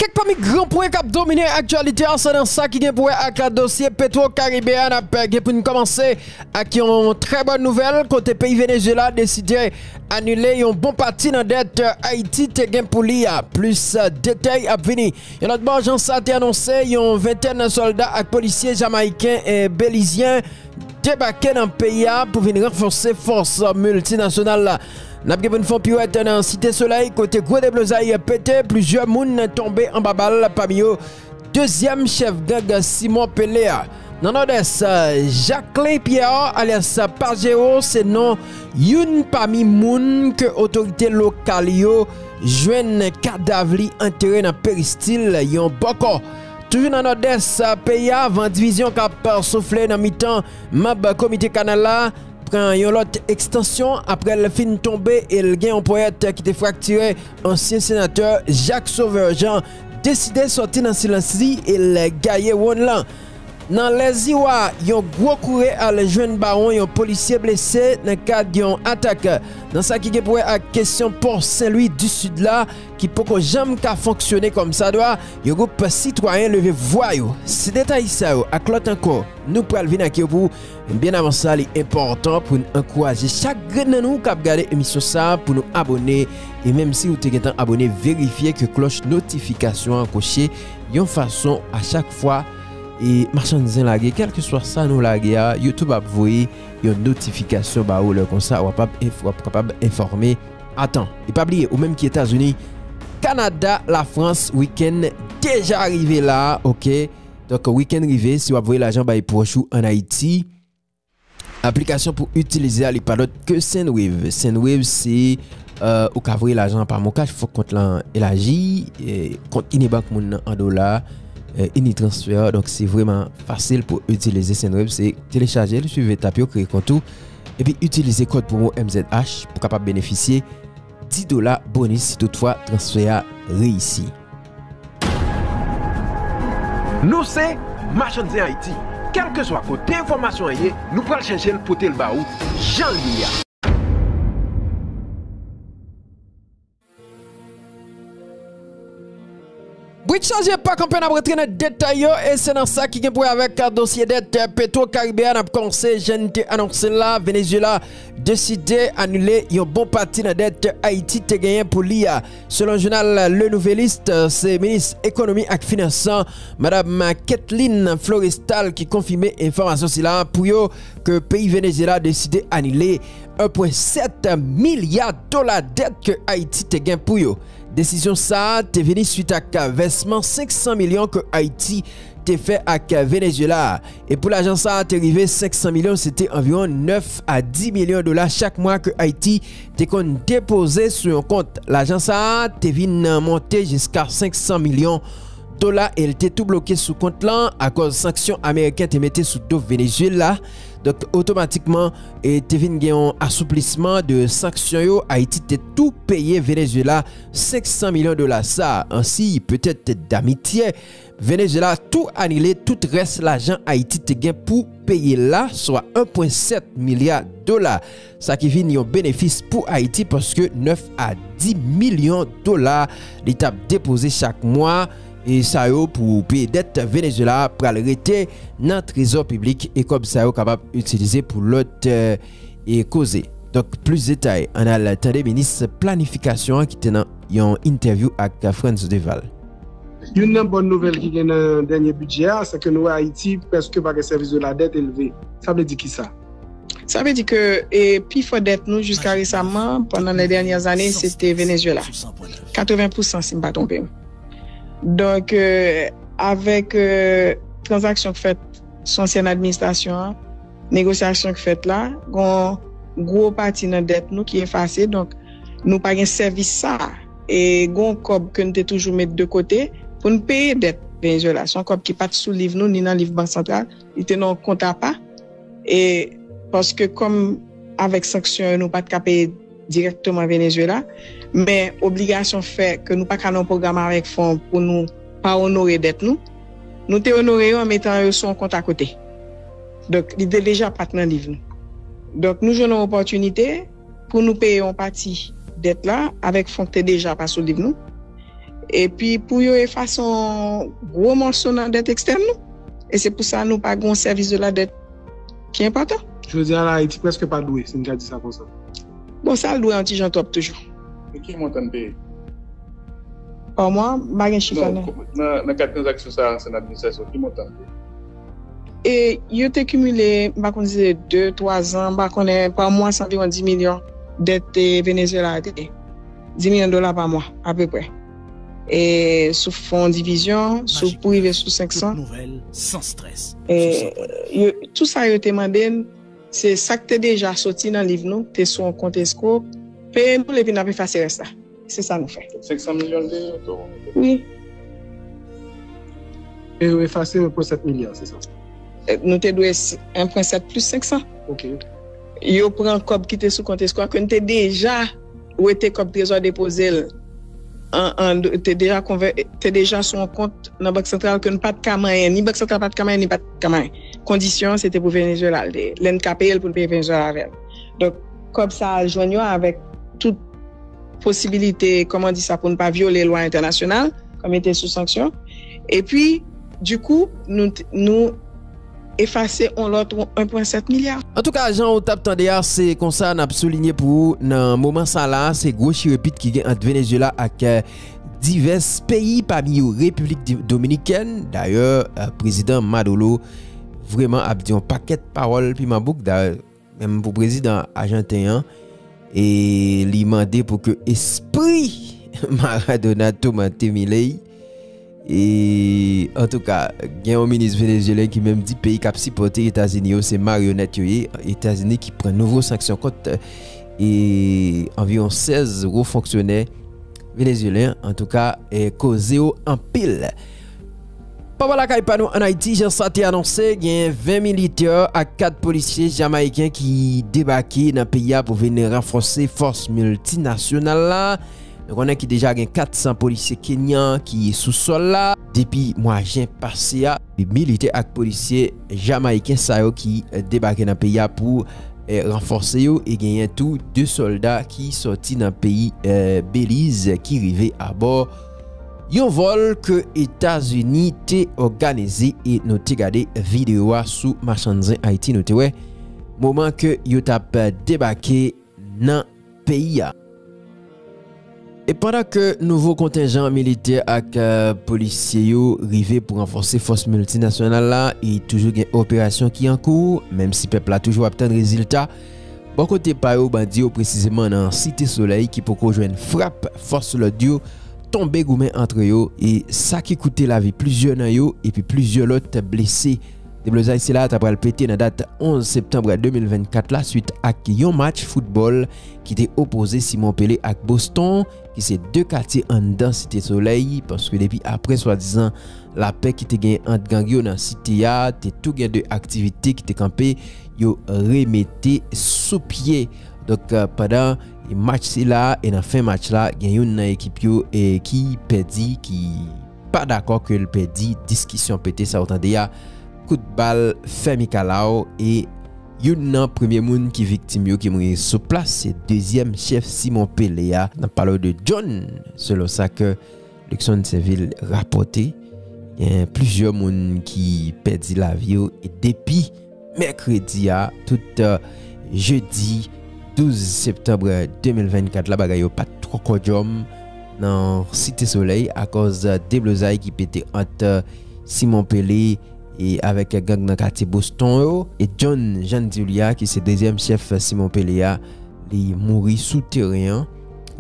Kèk pami gran pwen k ap domine aktyalite a se nan sa ki gen pou wè ak dosye Petwo Karibe a. N ap gen pou n kòmanse ak yon trè bòn nouvèl kote peyi Venezyela deside anile yon bon pati nan dèt Ayiti te gen pou li a. Plis detay ap vini. Yon lòt bò, jan sa te anonse, yon ventèn sòlda ak polisye Jamayiken e Belizyen debake nan peyi a pou vin ranfòse fòs miltinasyonal la. N ap gen pou n fè yon piwèt nan Site Solèy kote gwo deblozay pete, plizyè moun tonbe anba bal pami yo dezyèm chèf gang Simon Pele a. Nan Nòdès, Jacquelin Pierre alyas Pajero se non youn pami moun ke otorite lokal yo jwenn kadav li antere nan peristil yon bòkò. Toujou nan Nòdès peyi a, van divizyon k ap soufle nan mitan manb komite kanal la pran yon lòt ekstansyon aprè l fin tonbe e l gen yon ponyèt ki te fraktire, ansyen senatè Jacques Sauveur Jean deside sòti nan silans li e l gaye wonn lan. Nan Lèziwa, yon gwo koure al jwenn bawon yon polisye blese nan kad yon atak nan sa ki gen pou wè ak kesyon pò Senlwi disid la ki poko janm ka fonksyone kòmsadwa, yon gwoup sitwayen leve vwa yo. Se detay sa yo ak lòt ankò nou pral vin ak yo pou. Byen avan sa li enpòtan pou n ankouraje chak grenn nan nou kap gade emisyon sa pou nou abone e menm si ou te gentan abone verifye ke klòch notifikasyon an koche yon fason a chak fwa machann zen lage kèlkeswa sa nou lage a youtube ap voye yon notifikasyon ba ou lè konsa wap kapab enfòme atan. E pa bliye ou menm ki etazini kanada lafrans wikenn deja rive la ok. Donk weekend rive si wap voye lajan bay pwòch ou an Ayiti aplikasyon pou itilize a li pa lòt ke Sendwave. Sendwave se ou ka voye lajan pa MonCash fòk kont lan elaji kont Inibank moun nan an dola Initransfer donk se vreman fasil pou itilize Sendwave se telechaje li swiv etap yo kreye kont ou epi itilize kòd pwomo MZH pou kapab benefisye 10 dola bonis si tout fwa transfè a reyisi. Nou se Machann Zen Ayiti, kèlkeswa kote enfòmasyon an ye, nou pral chèche l pote l ba ou jan l ye a. Brit chaje pa kanpe nap rantre nan detay yo e se nan sa ki gen pou wè avèk dosye dèt petwo karibe a nap kòmanse jan n te anonse l la Venezyela deside anile yon bon pati nan dèt Ayiti te genyen pou li a selon jounal Le Nouvelliste se minis ekonomi ak finans an madam Ketleen Florestal ki konfime enfòmasyon sila pou yo ke peyi Venezyela deside anile 1.7 milya dola dèt ke Ayiti te gen pou yo. Desizyon sa a te vini swit ak vèsman 500 milyon ke Ayiti te fè ak Venezyela a. E pou lajan sa a te rive 500 milyon se te anviwon 9 a 10 milyon dola chak mwa ke Ayiti te konn depoze sou yon kont. Lajan sa a te vin monte jiska 500 milyon dola e l te tou bloke sou kont lan akòz sanksyon Ameriken te mete sou do Venezyela. Donk otomatikman e te vin gen yon asouplisman de sanksyon yo, Ayiti te tou peye Venezyela 500 milyon dola sa an siy petèt damitye. Venezyela tou anile tout rès lajan Ayiti te gen pou peye la, swa 1.7 milya dola. Sa ki vin yon benefis pou Ayiti paske 9 a 10 milyon dola li t ap depoze chak mwa sa yo pou peye dèt Venezyela a pral rete nan trezò piblik e kòb sa yo kapab itilize pou lòt koze. Donk plis detay ann al tande minis planifikasyon an ki te nan yon entèvyou ak Frantz Duval. Youn nan bòn nouvèl ki gen nan dènye bidjè a, se ke nou wè Ayiti prèske pa gen sèvis de la dèt elve. Sa vle di kisa? Sa vle di ke pi fò dèt nou jiska resamman pandan lè dènyè zane se te Venezuela 80 pousan si m pa twonpe m. Donk avèk tranzaksyon k fèt sou ansyen administrasyon an, negosyasyon k fèt la gon gwo pati nan dèt nou ki efase donk nou pa gen sèvis sa a e gon kòb ke n te toujou met de kote pou n peye dèt Venezuela se yon kòb ki pa t sou liv nou ni nan liv bank santral Li te nan yon kont apa e paske kòm avèk sanksyon yo nou pa t ka peye dirèkteman Venezuela men obligasyon fè ke nou pa ka nan yon pwogram avèk fon pou nou pa onore dèt nou, nou te onore yo an metan yo sou yon kont akote. Donk li te deja pa t nan liv nou. Donk nou jwenn yon opòtinite. Pou nou peye yon pati dèt la avèk fon k te deja pa sou liv nou, epi pou yo efase yon gwo mòso nan dèt ekstèn nou, e se pou sa nou pa gen yon sèvis de la dèt ki enpòtan. Jodi a la, Ayiti prèske pa dwe, si n ka di sa konsa. Bon, sa l dwe yon ti jan twòp toujou. E ki montan n peye? Pa mwa? M pa gen chif la nan. Non, nan kad tranzaksyon sa a, ansyen administrasyon, ki montan n peye? E yo te kimile, m pa konn si se de, twa zan, m pa konnen, pa mwa se anviwon di milyon dèt te Venezyela a te gen. Di milyon dola pa mwa, apeprè. E sou fon divizyon, sou pou rive sou 500. E yo, tou sa yo te mande n, se sa k te deja soti nan liv nou, te sou yon kont esko, peye nou l epi n ap efase rès la. Se sa nou fè. 500 milyon de euro? Wi. E yo efase 1.7 milyon, se sa? Nou te dwe 1.7 plis 500. Ok. Yo pran kòb ki te sou kont eskwa ke nou te deja wete kòb trezò depoze l an, te deja konvè, te deja sou yon kont nan Bank Santral ke nou pa t ka manyen, ni Bank Santral pa t ka manyen, ni pa t ka manyen. Kondisyon an se te pou Venezuela l te ye. Lè n ka peye l pou n peye Venezuela avè l. Donk. Kòb sa a jwenn yo avèk tout. posibilite kòman di sa pou n pa vyole lwa entènasyonal kòm ete sou sanksyon epi di kou nou efase yon lòt 1.7 milya. Antouka jan ou tap tande a se konsa nap soulinye pou ou nan moman sa la se gwo chirepit ki gen ant Venezyela ak divès peyi pami yo Repiblik Dominikèn dayè prezidan Madolo vreman ap di yon pakèt pawòl piman bouk dayè Menm pou prezidan ajanten an e li mande pou ke espri Maradona toumante Milei e antouka gen yon minis venezyelen ki menm di peyi kap sipote Etazini yo se maryonet yo ye, Etazini ki pran nouvo sanksyon kont e anviwon 16 wo fonksyonè venezyelen antouka koze yo anpil. Papa lakay pa nou an Ayiti, jan sa te anonse, genyen 20 militè ak 4 polisye Jamayiken ki debake nan peyi a pou vin ranfòse fòs miltinasyonal la. Nou konnen ki deja gen 400 polisye Kenyan ki sou sòl la. Depi mwa jen pase a, militè ak polisye Jamayiken sa yo ki debake nan peyi a pou ranfòse yo e genyen tou 2 sòlda ki sòti nan peyi Beliz ki rive abò. Yon vòl ke Etazini te òganize e nou te gade video a sou Machann Zen Ayiti nou te wè moman ke yo tap debake nan peyi a. E pandan ke nouvo kontenjan militè ak polisye yo rive pou ranfòse fòs miltinasyonal la e toujou gen operasyon ki an kou menm si pèp la toujou ap tann rezilta Bò kote pa yo bandi yo presizeman nan Site Solèy ki poko jwenn frap fòs lòd yo tonbe goumen antre yo e sa ki koute lavi plizyè nan yo epi plizyè lòt blese. Deblozay sila a ta pral pete nan dat 11 septanb 2024 la swit ak yon match foutbòl ki te opoze Simon Pele ak Boston ki se 2 katye anndan Site Solèy, paske depi aprè swadizan lapè ki te genyen ant gang yo nan Site a, te tou gen 2 aktivite ki te kanpe, yo remete sou pye. Donk, pandan match sila a e nan fen match la, gen youn nan ekip yo ki pèdi, ki. pa dakò ke l pèdi diskisyon pete sa ou tande a kout bal fè mikalaw e youn nan premye moun ki viktim yo ki mouri sou plas se dezyèm chèf Simon Pele a nap pale w de John selon sa ke Luckson Sainvil rapòte gen plizyè moun ki pèdi lavi yo e depi Mèkredi a tout jedi 12 septanb 2024 la bagay yo pat twò kòdyòm nan Site Solèy akòz deblozay ki pete ant Simon Pele avèk gang nan katye Boston yo e John Jan di w li a ki se dezyèm chèf Simon Pele a li mouri sou teren an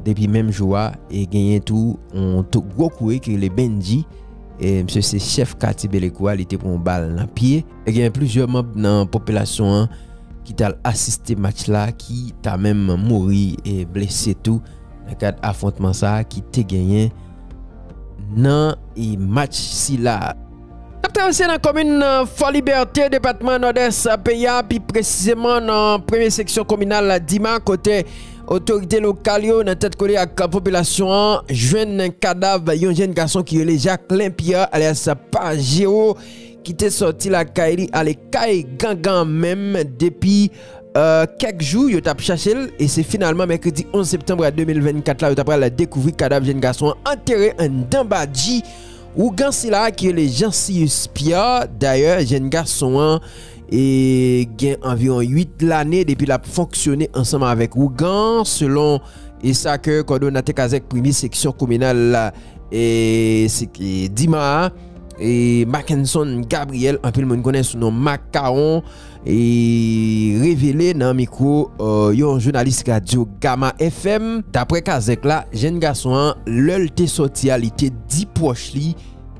depi menm jou a e genyen tou yon gwo koure ki rele Bendji misye se chèf katye Belekou a li te pran yon bal nan pye. E gen plizyè manb nan popilasyon an ki tal asiste match la ki ta menm mouri e blese tou nan kad afwontman sa ki te genyen nan e match sila. Nap travèse nan komin Fòlibète depatman Nòdès peyi a pi presizeman nan premye seksyon kominal Dima kote otorite lokal yo nan tèt kole ak popilasyon an jwenn kadav yon jenn gason ki rele Jacquelin Pierre alyas Pa Jero ki te sòti lakay li ale kay gangan an menm depi kèk jou yo t ap chache l e se finalman mèkredi 11 septanm 2024 la yo ta pral dekouvri kadav jenn gason an antere anndan badji ougan sila a ki rele Jeancius Pierre dayè jenn gason an gen anviwon 8 lane depi l ap fonksyone ansanm avèk ougan selon e sa ke kòdonate kazèk premye seksyon kominal la e se ki dima a. E Mackenson Gabriel anpil moun konnen sou non Mack Caron e revele nan mikwo yon jounalis radyo Gama FM. Daprè kazèk la, jenn gason an lè l te sòti a li te di pwòch li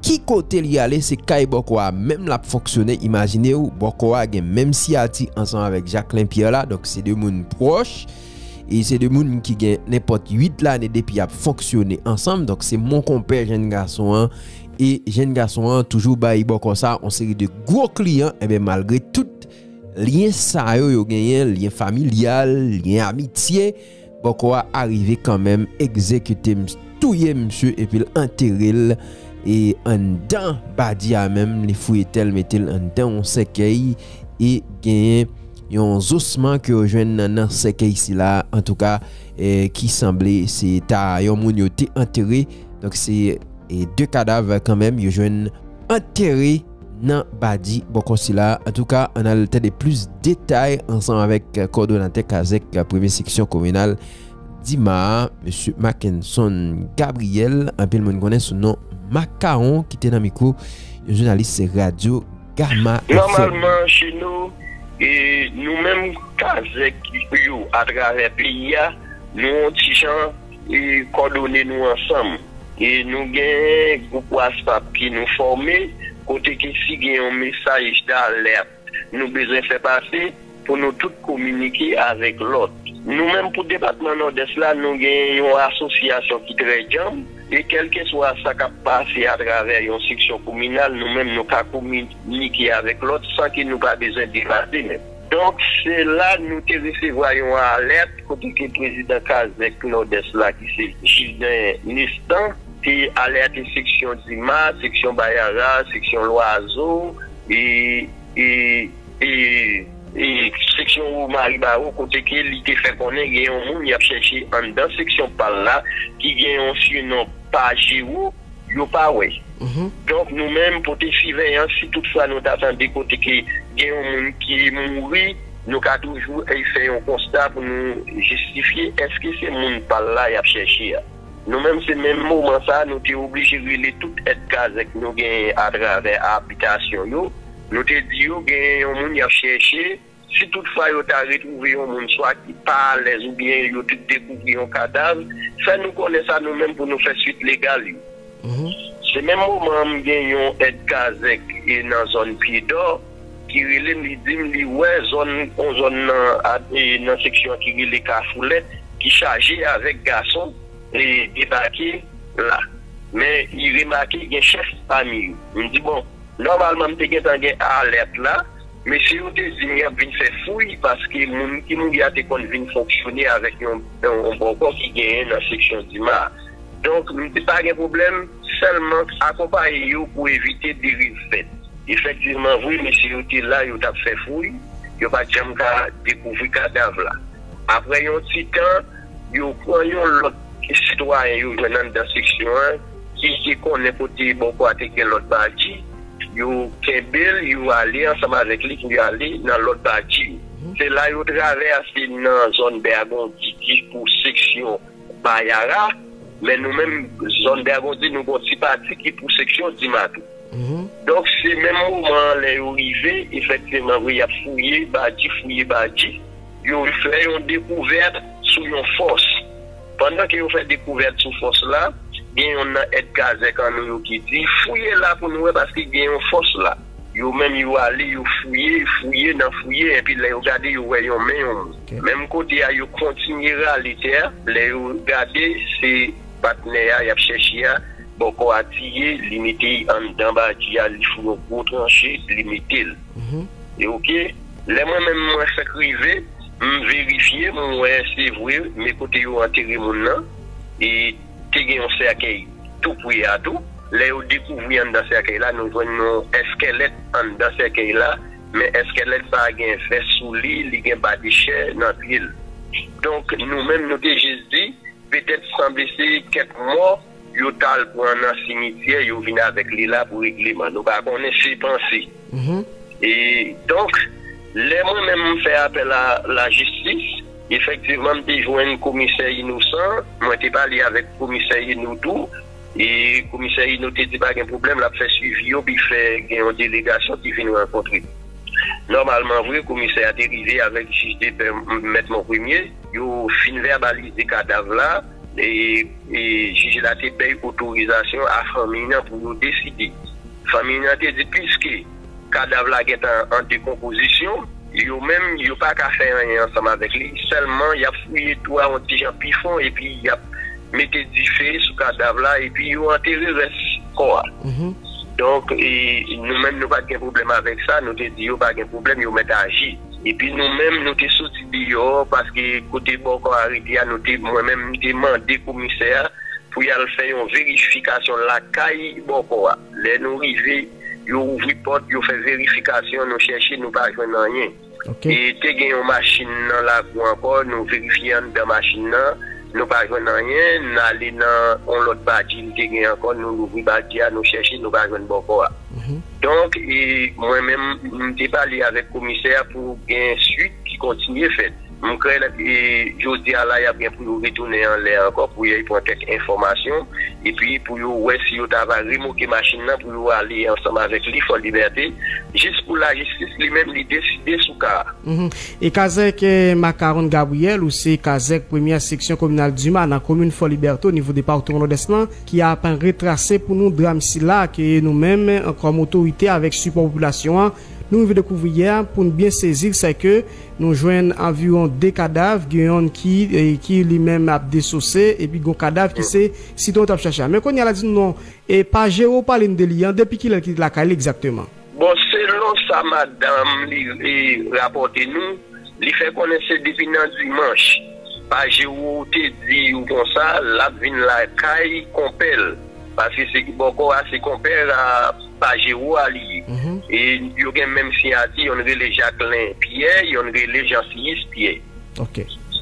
ki kote li ale se kay bòkò a menm l ap fonksyone imajine w bòkò a gen menm siyati ansanm avèk Jacquelin Pierre la donk se 2 moun pwòch. e se 2 moun ki gen nenpòt 8 lane depi yap fonksyone ansanm donk se mon konpè jenn gason an e jenn gason an toujou bay bòkò sa on seri de gwo kliyan enben malgre tout lyen sa yo yo genyen lyen familyal lyen amitye bòkò a arive kanmenm egzekite misye touye misye epi l antere l e anndan badi a menm li fouye tè l mete l anndan on sèkèy e genyen. Yon zosman ke yo jwenn nan nan sèkèy sila a antouka ki sanble se ta yon moun yo te antere. Donk se 2 kadav kanmenm yo jwenn antere nan badi bò kò sila a. Antouka an al tande plis detay ansanm avèk kòdonatè kazèk premye seksyon kominal Dima a, Mesye Mackenson Gabriel anpil moun konnen sou non Makawon ki te nan mikwo yon jounalis radyo. Gama FM. Nòmalman che nou, nou menm kazèk yo atravè peyi a, nou on ti jan kòdone nou ansanm. Nou gen gwoup whatsapp ke nou fòme, kote ke si gen yon mesaj d'alerte nou bezwen fè pase, Pou nou tout kominike avèk lòt. Nou menm pou depatman Nòdès la, nou gen yon asosyasyon ki trè djanm, e kèlkeswa sa k ap pase atravè yon seksyon kominal, nou menm nou ka kominike avèk lòt san ke nou pa bezwen deplase menm. Donk, se la nou te resevwa yon alèt kote ke prezidan kazèk Nòdès la ki se Jiven Nestan te alète seksyon Dima, seksyon Bayara, seksyon Lwazo, e. Seksyon Womari Bawo kote ke li te fè konnen gen yon moun yap chèche anndan seksyon pal la ki gen yon sinon Pajero yo pa wè. Donk nou menm pote siveyans si tout fwa nou ta tande kote ke gen yon moun ki mouri nou ka toujou fè yon konsta pou nou jistifye eske se moun pal la yap chèche a. Nou menm se menm moman sa nou te oblije rele tout èd kazèk nou genyen atravè abitasyon yo. Nou te di yo genyen yon moun y ap chèche. Si tout fwa yo ta retwouve yon moun swa ki pa alèz oubyen yo te dekouvri yon kadav, fè nou konnen sa nou menm pou nou fè swit legal yo. Se menm moman an m gen yon èd kazèk nan zòn Pyedò ki rele m li di m li wè zòn yon zòn nan seksyon an ki rele Kafoulèt ki chaje avèk gason debake la men li remake gen chèf pami yo. M di bon Nòmalman m te gentan gen alèt la. Mesye yo te di m y ap vin fè fouy paske moun ki mouri a te konn vin fonksyone avèk yon bòkò ki genyen nan seksyon Dima a. Donk m te pa gen pwoblèm, sèlman akonpaye yo pou evite deriv fèt. Efektivman vre, mesye yo te la, yo t ap fè fouy, yo pa t janm ka dekouvri kadav la. Apre yon ti tan, yo pran yon lòt sitwayen yo jwenn anndan seksyon an. Jij te konnen kote Bòkò a te gen lòt baji, yo kenbe l, yo ale ansanm avèk li pou yo ale nan lòt baji yo. Se la yo travèse nan zòn Bèagondi ki pou seksyon Bayara, men nou menm zòn Bèagondi nou gon ti pati ki pou seksyon Dima tou. Donk se menm moman an lè yo rive, efektivman vre y ap fouye baji, fouye baji, yo fè yon dekouvèt sou yon fòs. Pandan ke yo fè dekouvèt sou fòs la, gen yonn nan èd kazèk an nou yo ki di, Fouye la pou nou wè paske gen yon fòs la. Yo menm yo ale, yo fouye, fouye nan fouye, enpi lè yo gade yo wè yon men yon moun. Menm kote a, yo kontinye rale tè a, lè yo gade, se patnè a y ap chèche a, bòkò a tiye, li mete anndan bati a, li fou yon gwo tranche, li mete l. E oke, Lè mwen menm mwen fèk rive, m verifye, m wè se vre men kote yo antere moun nan e te gen yon sèkèy tou pre a tou. Lè yo dekouvri anndan sèkèy la, nou jwenn yon èskèlèt anndan sèkèy la, men èskèlèt sa a gen vès sou li, li gen badechè nan pye l. Donk nou menm nou te jis di, petèt sanble se kèk mò. Yo tal pran nan simityè yo vin avèk li la pou regleman nou pa konnen se panse e donk lè mwen menm m fè apèl a la jistis efektivman m te jwenn komisè inosan mwen te pale avèk komisè ino tou e komisè ino te di pa gen pwoblèm lap fè swivi yo pi fè gen yon delegasyon ki vin rankontre nòmalman vre komisè a te rive avèk jij depè mèt monpremye. Yo fin vèbalize kadav la e jij la te bèy otorizasyon a fanmiy nan pou yo deside. Fanmiy nan te di piske kadav la gentan an dekonpozisyon, yo menm yo pa ka fè anyen ansanm avèk li, sèlman yap fouye tou a yon ti jan pi fon epi yap mete dife sou kadav la epi yo antere rès kò a. Donk nou menm nou pat gen pwoblèm avèk sa, nou te di yo pa gen pwoblèm yo mèt aji. Epi nou menm nou te soti deyò paske kote Bòkò arete a nou te mwen menm m te mande komisè a pou y al fè yon verifikasyon lakay Bòkò a. Lè nou rive yo ouvri pòt yo fè verifikasyon nou chèche nou pa jwenn anyen. E te gen yon machin nan lakou ankò nou verifye anndan machin nan nou pa jwenn anyen n ale nan yon lòt bati li te gen ankò nou louvri bati a nou chèche nou pa jwenn Bòkò a. Donk, mwen menm, m te pale avèk komisè a pou gen swit ki kontinye fèt. M kwè jodi a la y ap gen pou yo retounen anlè ankò pou yo pran kèk enfòmasyon epi pou yo wè si yo ta va remoke machin nan pou yo ale ansanm avèk li Fò Libète jis pou lajistis li menm li deside sou ka a. E kazèk Macaron Gabriel ou se kazèk premyè seksyon kominal Duma nan komin Fò Libète onivo depawtoman Nòdès lan, ki ap retrase pou nou dram sila ke nou menm kòm otorite avèk sipò popilasyon an nou rive dekouvri yè pou n byen sezi l sè ke nou jwenn anviwon 2 kadav gen yonn ki ki li menm ap desose epi gon kadav ki se sitwayen yo t ap chache a men kounye a la di nou non e pa Jero w pale n de li an depi kilè l ki te lakay li egzakteman. Bon, selon sa madanm li rapòte nou, li fè konnen se depi nan dimanch pa Jérôme te di yo konsa lap vin lakay konpè l, paske se bòkò a se konpè a pa Jérôme a li ye e yo gen menm siyati yonn rele Jacquelin Pierre yonn rele Jean Siyis Pierre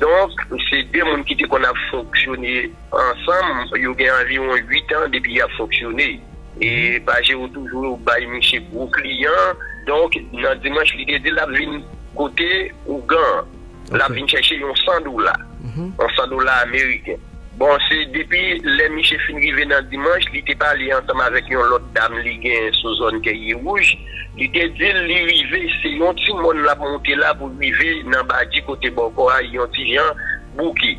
donk se 2 moun ki te konn ap fonksyone. Ansanm, yo gen anviwon 8 an depi y ap fonksyone. E Pajero toujou bay misye gwo kliyan. Donk, nan dimanch, li te di l ap vin kote Ougan an. L ap vin chèche yon 100 dola. Yon 100 dola ameriken. Bon, se depi lè misye fin rive nan dimanch, li te pale ansanm avèk yon lòt dam li gen sou zòn Kèyewouj. Li te di l li rive, se yon ti mòn l ap monte la pou l rive nan Badji kote bòkò a yon ti jan bouke.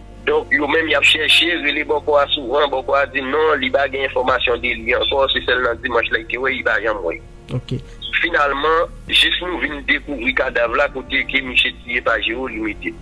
Donk yo menm yap chèche, rele bòkò a souvan, bòkò a di non, li pa gen enfòmasyon de li ankò, se sèl nan dimanch la li te wè, li pa janm wè. Finalman, jis nou vin dekouvri kadav la kote ke misye tiye Pajero li mete.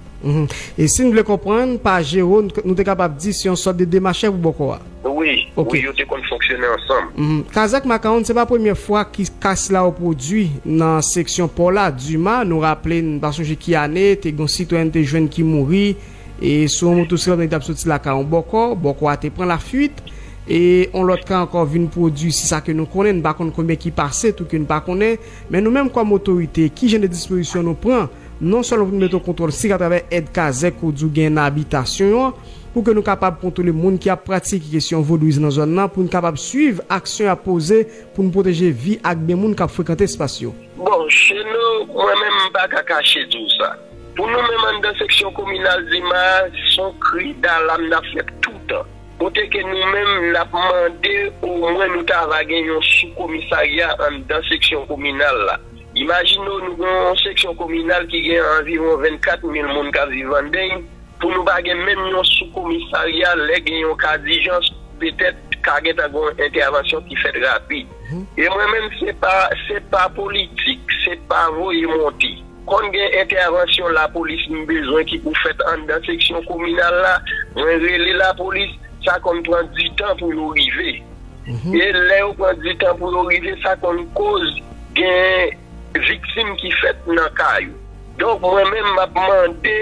E si n vle konprann, Pajero nou te kapab di se yon sòt de demachè pou bòkò a? Wi, wi yo te konn fonksyone ansanm. Kazèk Makawonn se pa premye fwa ki kas la repwodui nan seksyon pò la, Dima nou raple n pa sonje ki ane, te gen yon sitwèyèn te jwenn ki mouri, e sou yon motosiklèt men li t ap soti lakay yon bòkò, bòkò a te pran lafuit e yon lòt ka ankò vin pwodui se sa ke nou konnen, nou pa konn konbyen ki pase tou ke nou pa konnen, men nou menm kòm otorite ki jan de dispozisyon nou pran non sèlman pou nou mete yon kontwòl sik atravè èd kazèk ou di ou genyen nan abitasyon yon pou ke nou kapab kontwole moun ki ap pratike kesyon vodouyizm nan zòn nan pou nou kapab swiv aksyon y ap poze pou nou pwoteje vi ak byen moun k ap frekante espas yo. Bon Sheno, mwen menm m pa ka kache di w sa. Pou nou menm anndan seksyon kominal Dima a, s on kri dalam n ap fè toutan. Kote ke nou menm n ap mande omwen nou ta va gen yon soukomisarya anndan seksyon kominal la. Imajine w nou gen yon seksyon kominal ki gen anviwon 24 mil moun k ap viv anndeny, pou nou pa gen menm yon soukomisarya lè gen yon ka dijans, petèt ka gen ta gen yon entèvansyon ki fèt rapid. E mwen menm se pa, se pa politik, se pa voye monte. Konn gen entèvansyon lapolis m bezwen ki pou fèt anndan seksyon kominal la, mwen rele lapolis, sa konn pran di tan pou yo rive. E lè yo pran di tan pou yo rive, sa konn koz gen viktim ki fèt nan ka yo. Donk mwen menm m ap mande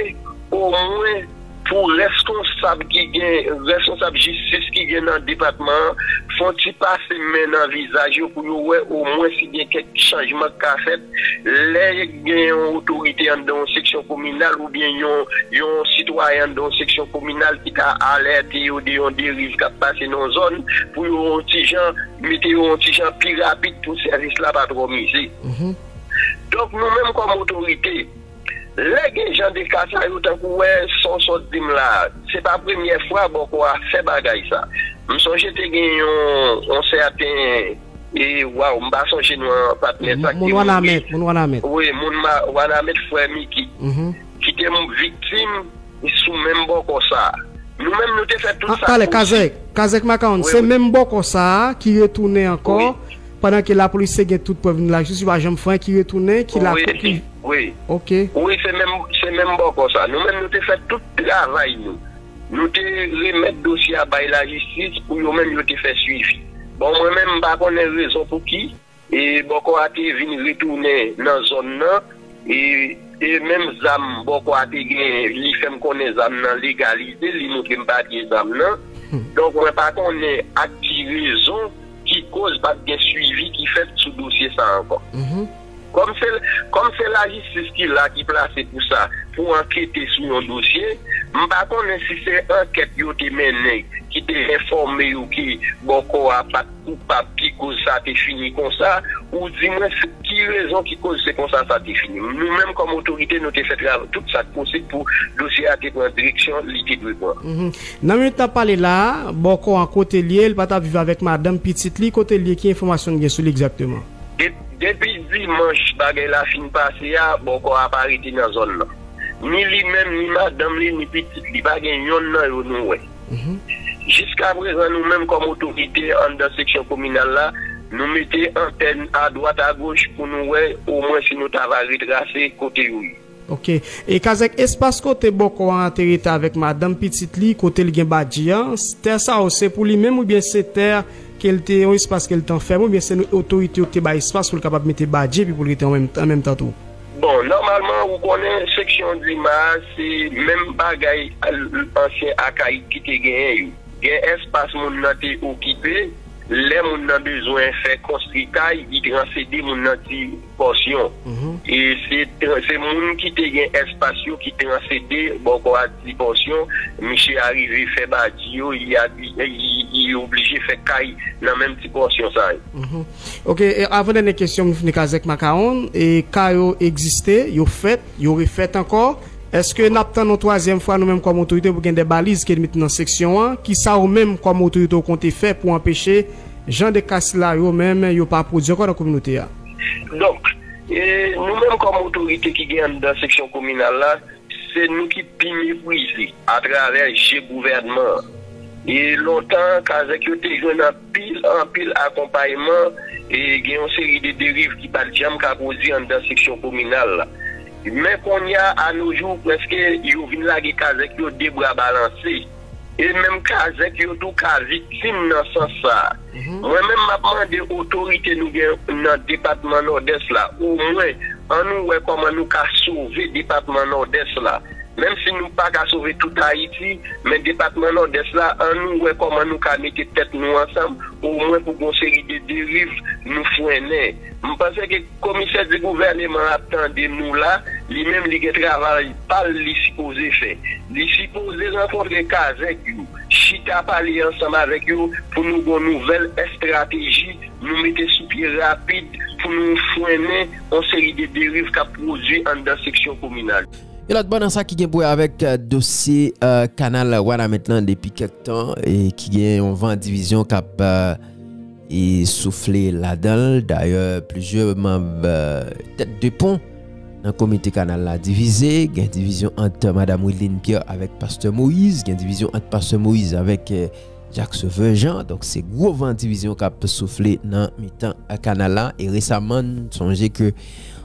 omwen Pou reskonsab ki gen reskonsab jistis ki gen nan depatman an fè yon ti pase men nan vizaj yo pou yo wè omwen si gen kèk chanjman k ka fèt lè gen yon otorite anndan yon seksyon kominal oubyen yon yon sitwayen anndan yon seksyon kominal ki ka alète yo de yon deriv k ap pase nan yon zòn pou yo yon ti jan mete yo yon ti jan pi rapid pou sèvis la pa twò mize. Donk nou menm kòm otorite. Lè gen jan de ka sa yo tankou wè son sot dim la se pa premyè fwa bòkò a fè bagay sa m sonje te gen yon sèten e waw m pa sonje non patnè sa ki mouri wi moun wanamèt frè miki ki te viktim sou menm bòkò sa nou menm nou te fè tout sa pale kazèk kazèk makawonn se menm bòkò sa ki retounen ankò pandan ke lapolis te gen tout prèv nou lajis yo pa janm fè anyen ki retounen ki la. Wi. Ok. Wi se menm se menm bòkò sa. Nou menm nou te fè tout travay nou. Nou te remèt dosye a bay lajistis pou yo menm yo te fè swivi. Bon mwen menm m pa konnen rezon pouki e bòkò a te vin retounen nan zòn nan e e menm zam bòkò a te genyen li fè m konnen zam nan legalize li moutre m papye zam nan. Donk mwen pa konnen ak ki rezon ki koz pa t gen swivi ki fèt sou dosye sa ankò. Kòm se lajistis ki la, ki plase pou sa, pou ankete sou yon dosye, m pa konnen si se ankèt yo te mennen ki te enfòme yo ke Bòkò a pa t koupab ki koz sa te fini konsa, ou di mwen ki rezon ki koz se konsa sa te fini. Nou menm kòm otorite nou te fè travay, tout sa k posib pou dosye a te pran direksyon li te dwe pran. Nan minit n ap pale la a, Bòkò an kote l ye? L pa t ap viv avèk madanm, pitit li? Kote l ye? Ki enfòmasyon n gen sou li egzakteman? Depi dimanch bagay la fin pase a, bòkò a pa rete nan zòn nan. Ni li menm, ni madanm li, ni pitit li, pa gen yonn nan yo nou wè. Jiskaprezan nou menm kòm otorite anndan seksyon kominal la, nou mete antèn adwat agoch pou nou wè omwen si nou ta va retrase kote yo ye. Ok. E kazèk espas kote bòkò an te rete avèk madanm pitit li kote li gen badji an, tè sa yo se pou li menm oubyen se tè ke l te yon espas ke l te anfème oubyen se nou otorite yo ki te bay espas pou l kapab mete badji epi pou l rete an menm an menm tan tou? Bon, nòmalman ou konnen seksyon Dima a se menm bagay ansyen Akayid ki te genyen yo. Gen espas moun nan te okipe, lè moun nan bezwen fè konstri kay li transede moun nan di Pòsyon. E se se moun ki te gen espas yo ki transede bòkò a di pòsyon. Misye arive fè badi yo, li abi, li oblije fè kay nan menm ti pòsyon sa yo. Ok, avan dènye kesyon m fini kazèk makawon. E kay yo egziste, yo fèt, yo refèt ankò. Eske n ap tann yon twazyèm fwa nou menm kòm otorite pou gen de baliz ki met nan seksyon an? Kisa ou menm kòm otorite ou konte fè pou anpeche jan de ka sila yo menm yo pa pwodui ankò nan kominote a? Donk, nou menm kòm otorite ki gen anndan seksyon kominal la, se nou ki pi meprize atravè je gouvènman an. E lontan, kazèk yo te jwenn anpil, anpil akonpayman e gen yon seri de deriv ki pa t janm ka pwodui anndan seksyon kominal la. Men kounye a, anojou, prèske yo vin lage kazèk yo de bra balanse. E menm kazèk yo tou ka viktim nan sans sa a. Mwen menm map mande otorite nou gen nan depatman Nòdès la omwen an nou wè kòman nou ka sove depatman Nòdès la. Menm si nou pa ka sove tout Ayiti, men depatman Nòdès la an nou wè kòman nou ka mete tèt nou ansanm omwen pou gon seri de deriv nou frennen. M panse ke. Komisè di gouvèneman ap tande nou la, li menm li gen travay pal li sipoze fè. Li sipoze rankontre kazèk yo, chita pale ansanm avèk yo pou nou gon nouvèl estrateji nou mete sou pye rapid pou nou fwennen on seri de deriv kap pwodwi anndan seksyon kominal yo. Yon lòt bò nan sa ki gen pou wè avèk dosye kanal Wanament lan depi kèk tan e ki gen yon van divizyon kap. e soufle ladan l. Dayè, plizyè manb tèt de pon nan komite kanal la divize. Gen divizyon ant Madam Wideline Pierre avèk Pastè Moïse. Gen divizyon ant Pastè Moïse avèk Jacques Sauveur Jean. Donk se gwo van divizyon k ap soufle nan mitan kanal la. E resaman n sonje ke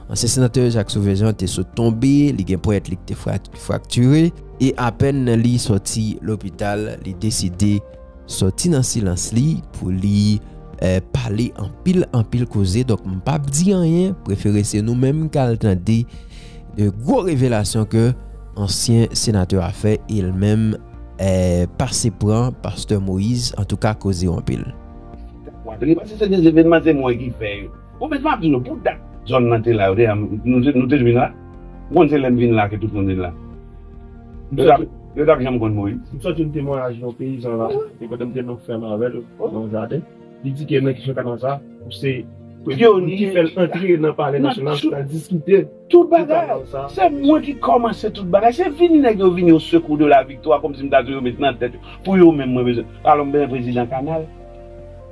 ansyen senatè Jacques Sauveur Jean te sot tonbe, li gen ponyèt li ki te fraktire. E apèn li sòti lopital, li deside. sòti nan silans li pou li pale anpil anpil koze donk m pap di anyen prefere se nou menm k al tande gwo revelasyon ke ansyen senatè a fè e l menm pase pran pastè Moïse antouka koze yo anpil. Bon met map di nou pou dat zòn nan te la yo te am nou te nou te vin la ou konn se lèm vin la ke tout moun vin la yo tap yo tap janm konn moyiz. M sòti yon temwayaj yon peyizan la e kote m te nan fèm avèl nan yon jaden li di ke nan kesyon kanal sa ou se pyonye ki fèl antre nan palè nasyonal pou ta diskite Tout bagay! Se mwen ki kòmanse tout bagay. Se vini nèg yo vini o sekou de la viktwa kòm si m ta di yo met nan tèt yo pou yo menm mwen bezwen. Alò m bezwen prezidan kanal.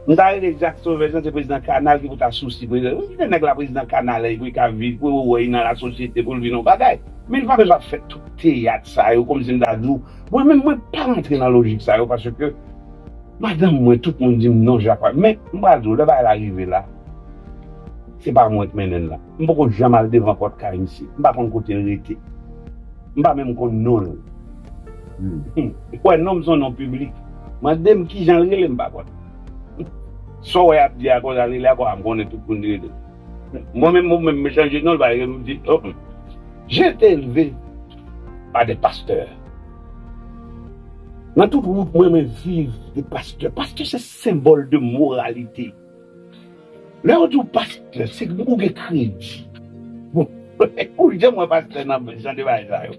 M ta rele Jak Sovè san se prezidan kanal ki pou ta sousi prezidan. Mwen kite nèg la prezidan kanal pou li ka viv, pou yo wè li nan lasosyete, pou l vin on bagay. Men li pa bezwen ap fè tout teyat sa yo kòm si m ta di w. Mwen menm mwen pa rantre nan lojik sa yo paske madanm mwen, tout moun di m non Jak pa. Men m pral di w lè bagay la rive la se pa mwen k mennen l nan. M poko janm al devan pòt kay misye. M pa konn kote l rete. M pa menm konn non l. Ou kwè non m s on non piblik. Mande m ki jan l rele m pa konn. Sa w wè y ap di a konsa l rele a konsa m konnen tout moun li rele. Mwen menm ou menm m chanje non l pa rele m di o m. J'ai été élevé par des pasteurs. Nan tout wout mwen mwen viv de pastè. Pastè se senbòl de moralite. Lè yo di w pastè, se pou ou gen kredi. Bon, ou janm wè pastè nan jan de bagay sa yo?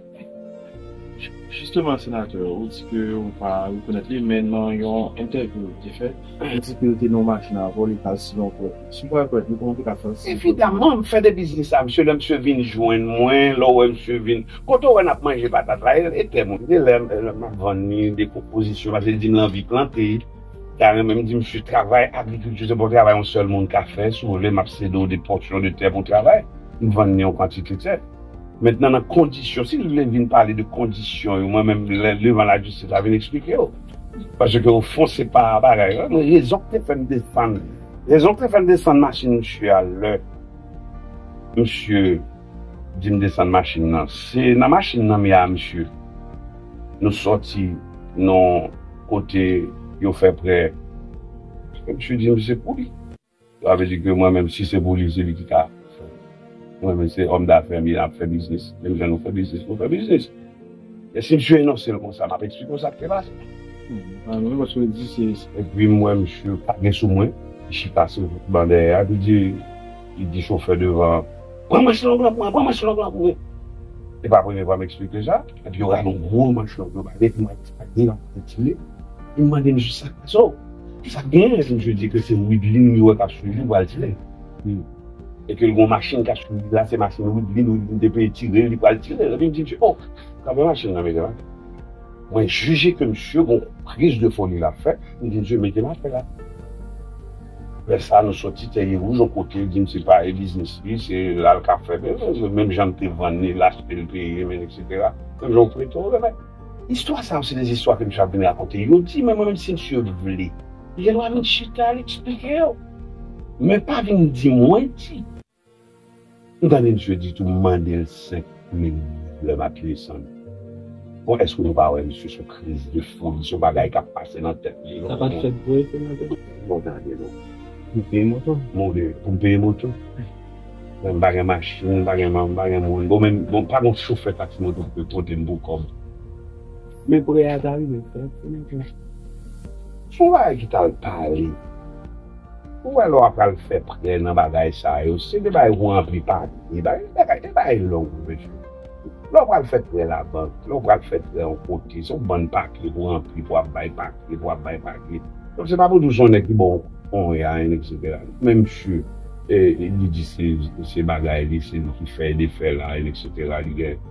Jisteman senatè, ou di ke ou pa rekonèt li, men nan yon entèvyou ou te fè, ou di ke ou te nan yon machin avè w, li pral si yon pwèt. Si w pral pwèt li, kòman w te ka fè l si yon pwèt? Evidaman, m fè de biznis a msye, lè msye vin jwenn mwen, lè w wè msye vin, kote w wè n ap manje patat la, e tè mwen. Gen lè m ap vann li de pwopozisyon, paske l di m l anvi plante. Ta renmen m di misye travay agrikilti se pa yon travay yon sèl moun ka fè, si w vle m ap sede w de pòsyon de tè pou w travay, m vann li yon kantite tè. Mentnan nan kondisyon, si l vle vin pale de kondisyon yo mwen menm lè devan lajistis la vin eksplike w. Paske o fon se pa bagay la, men rezon ki te fè m defann li. Rezon ki te fè m defann machin misye a lè misye. Dim desann machine nan. Se nan machine nan mea misye nou soti non kote yo fè prè paske misye dim se pou li. Sa vle di ke mwen menm si se pou li se li ki ka fè. Mwen menm se homme d'affaires mea ap fè biznis menm jan nou fè biznis nou fè biznis. Men si msye enonse l konsa, m ap eksplike w sa k te pase. An wi, paske l di se. Epi m wè msye pa gen sou mwen, li chita sou ban dèyè a, epi li di chofè devan an, Pran manch long lan pou mwen, pran manch long lan pou mwen. Se pa premye fwa m eksplike sa. Epi yo rale yon gwo manch long yo ba m, epi m wè sa k gen an, m retire. Epi m mande msye sa k pase. O! Sa k gen? Epi msye di ke se Wideline li wè k ap swiv li pou al tire l. Epi l gen yon machin k ap swiv li la, se machin Widlin, Widlin te vle tire l, li pral tire l. Epi m di misye, o, kanpe machin nan mete l atè. Mwen jije ke misye gen yon kriz de foli l ap fè, m di misye mete l atè la. Lè sa nou soti Tèye Wouj yon kote, l di m se pa e biznis li, se la l ka fè. Menm jan m te vann li, l achte l peye m etsetera. Menm jan yon feyton remèt. Istwa sa yo se de istwa ke misye ap vin rakonte. Yo di men mwen menm si misye vle. Gen dwa vin chita al eksplike yo. Men pa vin di mwen di. Ou tande misye di tou m mande l 5 mil goud lè m ap desann. Bon èske nou pa wè misye son kriz de foli son bagay k ap pase nan tèt li. Sa pat fèt vre senatè? Bon tande non. Pou m peye moto? Bon de pou m peye moto? Bon m pa gen machin, m pa gen moun, bon men bon pa gen yon chofè taksi moto ki pote m pou kòb? Men prè a ta rive fèt pou nou tout. Son bagay ki tal pale. Ou wè lè wap pral fè prè nan bagay sa yo se de bagay pou ranpli papye bagay bagay e bagay long wi mesye lè ou pral fè prè labank lè ou pral fè prè yon kote se yon bann papye pou ranpli pou ap bay papye pou ap bay papye donk se pa pou di ou se yon nèg ki ba ou konya en etc men misye e li di se se bagay li se li ki fè e defè la en etc li gen.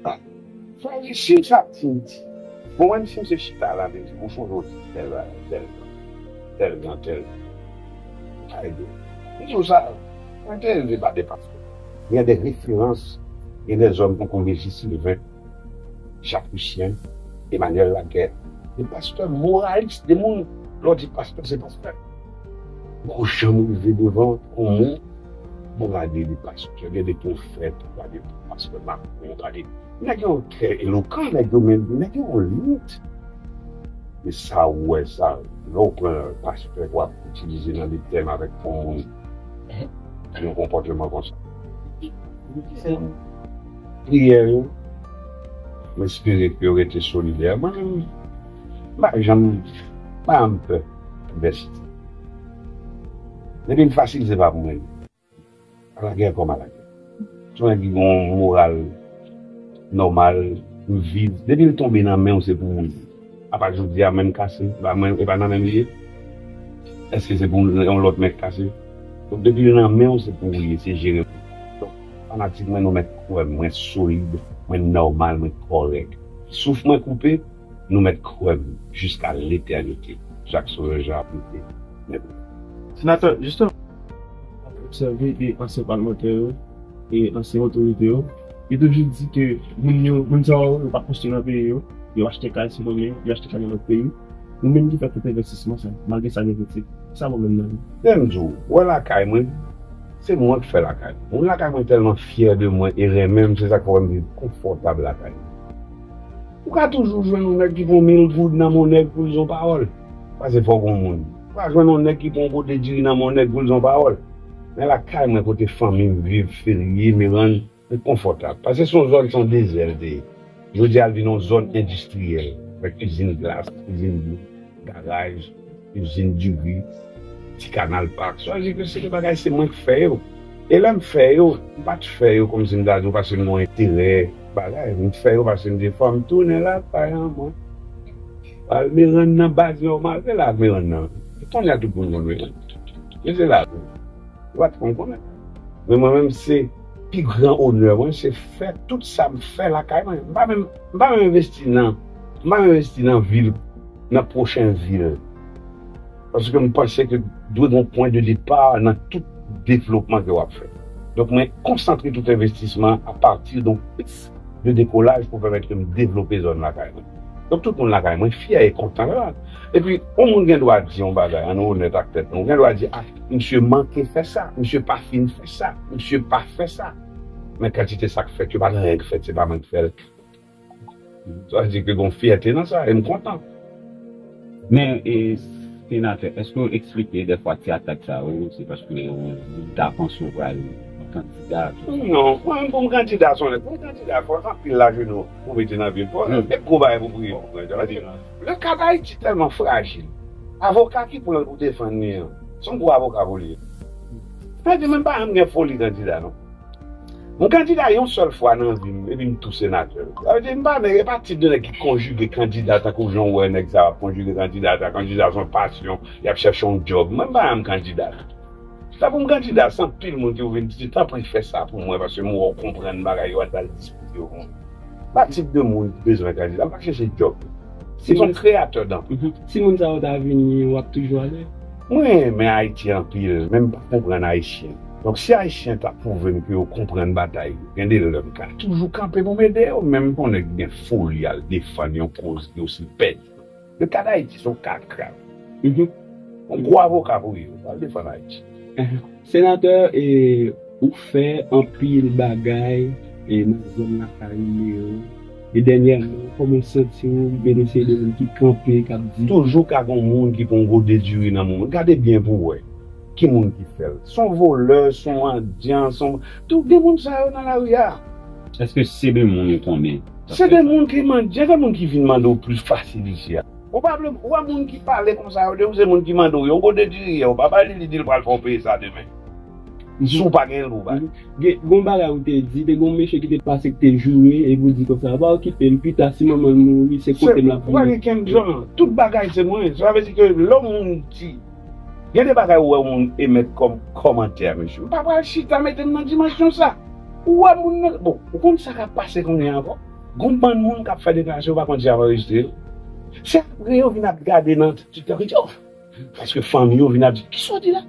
Sa Sa di sim sa sim di bon menm sim se chita la menm di bon son jon di tel bagay tel jan tel jan tel jan ou ka ede m m di w sa mwen te elve pa 2 pastè gen de referans gen de zòn tankou Regi Sylvain Jacques Lucien Emmanuel Laguerre de pastè moralis de moun lè w di pastè se pastè. Poko janm rive devan on moun bon gade de pastè gen de profèt ou gade de pastè macron ou gade nèg yo trè elokan nèg yo men nèg yo on limit men sa ou wè sa lè ou pran pastè pou ap itilize nan de tèm avèk on moun ki gen konpòteman konsa sèm priyè yo m espere ke yo rete solidè mwen menm m pa janm m pa janm pè. Vèsite. Depi l fasil se pa pou mwen li. Ala gè kòm ala gè. Si mwen ki gen yon moral nòmal, m viv, depi l tonbe nan men w se pou ou li ye. Apa jodi a menm kase, e pa nan men m li ye? Èske se pou yon lòt mèt kase? Donk depi l nan men w se pou ou li ye, se jere l pou ou. Donk fanatik mwen nou mèt kwè m, mwen solid, mwen nòmal, mwen kòrèk. Souf mwen koupe. Nou mèt kwè m jiska letènite Jacques Sauveur Jean ap lite men pou nou. Senatè Justin ap obsève de ansyen palmantè yo e ansyen otorite yo, yo toujou di ke moun yo, moun sa yo, yo pa konstwi nan peyi yo, yo achte kay sou nonmen yo, yo achte kay nan lòt peyi, ou menm ki fè tout envèstisman sa yo, malgre sa gen kritik, ki sa pwoblèm nan yo? Men m di w, ou wè lakay mwen, se mwen k fè lakay mwen, moun lakay mwen tèlman fyè de mwen e renmen m, se sa k fè w wè m viv konfòtab lakay mwen. Ou ka toujou jwenn yon nèg ki pran mil goud nan men yon nèg pou l di yon pawòl, pase fè w gon moun. Ou ka jwenn yon nèg ki pran yon pote diri nan men yon nèg pou l di yon pawòl. Men lakay mwen kote fanmi m viv, Ferye, Merann, mwen konfòtab. Pase son zòn, son dezè l te ye. Jodi a l vin yon zòn endistriyèl, avèk izin glas, izin dlo, garaj. Izin diri, ti kanal pak, sa vle di ke se de bagay se mwen ki fè yo. E lè m fè yo, m pa t fè yo kòmsi m ta di w paske m gen yon enterè bagay. M fè yo paske m di fò m tounen lakay an mwen. Pral Merann nan baz nòmal, se la Merann nan. Kounye a tout moun konn Merann. Men se la tou. Yo pa t konn konnen. Men mwen menm se pi gran onè mwen se fè tout sa m fè lakay mwen. M pa menm envesti nan, m pa menm envesti nan vil. nan pwochen vil. Paske m panse ke dwe gen yon pwen de depa nan tout devlopman ke w ap fè. Donk mwen konsantre tout envestisman a pati de yon pis de dekolaj pou pèmèt ke m devlope zòn lakay mwen. Donk tout moun lakay mwen fyè e kontan la. E pi yon moun gen dwa di yon bagay, an nou onèt ak tèt nou, ou gen dwa di, a, misye manke fè sa, misye pa fin fè sa, misye pa fè sa. Men kantite sa k fèt yo pa gen anyen k fèt, se pa mwen k fè l. Sa vle di ke gen yon fyète nan sa e m kontan. Men, Senatè, èske ou eksplike dèfwa ti atak sa yo se paske moun ta panse ou pral kandida? Non, mwen menm pou m kandida se yon lè. Pou m kandida, fò anpil lajenou ou mete nan vil, fò anpil gwo bagay pou priye pou kandida. Sa vle di, leka Dayiti tèlman frajil, avoka ki pran l pou defann li an, se yon gwo avoka pou li ye. Sa vle di, mwen pa janm gen foli kandida non. M kandida yon sèl fwa nan vi m epi m tou senatè. Sa vle di m pa nèg, e pa tip de nèg ki konjige kandida tankou jan w wè nèg sa yo ap konjige kandida sa. Kandida se yon pasyon, y ap chèche yon djòb. Mwen m pa janm kandida. Sa pou m kandida, se anpil moun ki pou vin di, di tanpri fè sa pou mwen paske m wè w konprann bagay yo al ba l diskite yo pou mwen. M pa tip de moun ki bezwen kandida, m pa chèche djòb. Se yon creator dan. Si moun sa yo ta vini wap toujou ale? Mwen renmen ayiti anpil men mpa konprann ayisyen donk si ayisyen ta pwouvem ke yo konprann batay yo gen de lè mka toujou kanpe poum ede yo menm pou nèg gen foli al defann yon koz ki osi pèdi yo le ka dayiti son ka grav on gwo avoka pou yo al defann ayiti. Senatè ou fè anpil bagay nan zòn lakay ou yo e dènyèman kòman ou santi ou benefiye de moun ki kanpe kap di. Toujou ka gon moun ki pon gode diri nan moun gade byen pou wè ki moun ki fèl son volè son mandyan son tou gen moun sa yo nan lari a. Eske se de moun ou konnen? Se de moun ki mandyan se moun ki vin mande ou plis fasil isi a. Ou pa vle ou wè moun ki pale konsa yo depi se moun ki mande w yon gode diri yè ou pa bali li di l pral fè w peye sa demen si w pa gen l pou w bali. Gen yon bagay ou te di te gen yon mesye ki te pase ki te joure epi ou di konsa ou pa okipe l pita si manman l mouri se kote m l ap vini. Ou pa gen kè m jan tout bagay se mwen sa vle di ke lè yon moun di gen de bagay ou wè yon moun emèt kòm kòmantè mesye m pa pral chita mete m nan dimansyon sa ou wè moun nan bon ou konn sa k ap pase kounye a ankò. Gon bann moun kap fè deklarasyon yo pa konn si yap anrejistre yo, se apre yo vin ap gade nan tiktok yo di oh paske fanmi yo vin ap di kisa w di la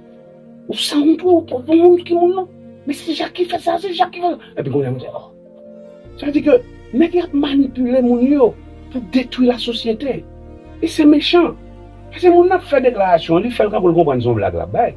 ou sanwont wi ou twòp pou moun ki moun lan men se jak ki fè sa se jak ki fè sa epi kounye a nou di oh sa vle di ke nèg la ap manipile moun yo pou detwi la sosyete e se mechan paske moun nan ap fè deklarasyon an li fèl kanpou l konprann se yon blag lap bay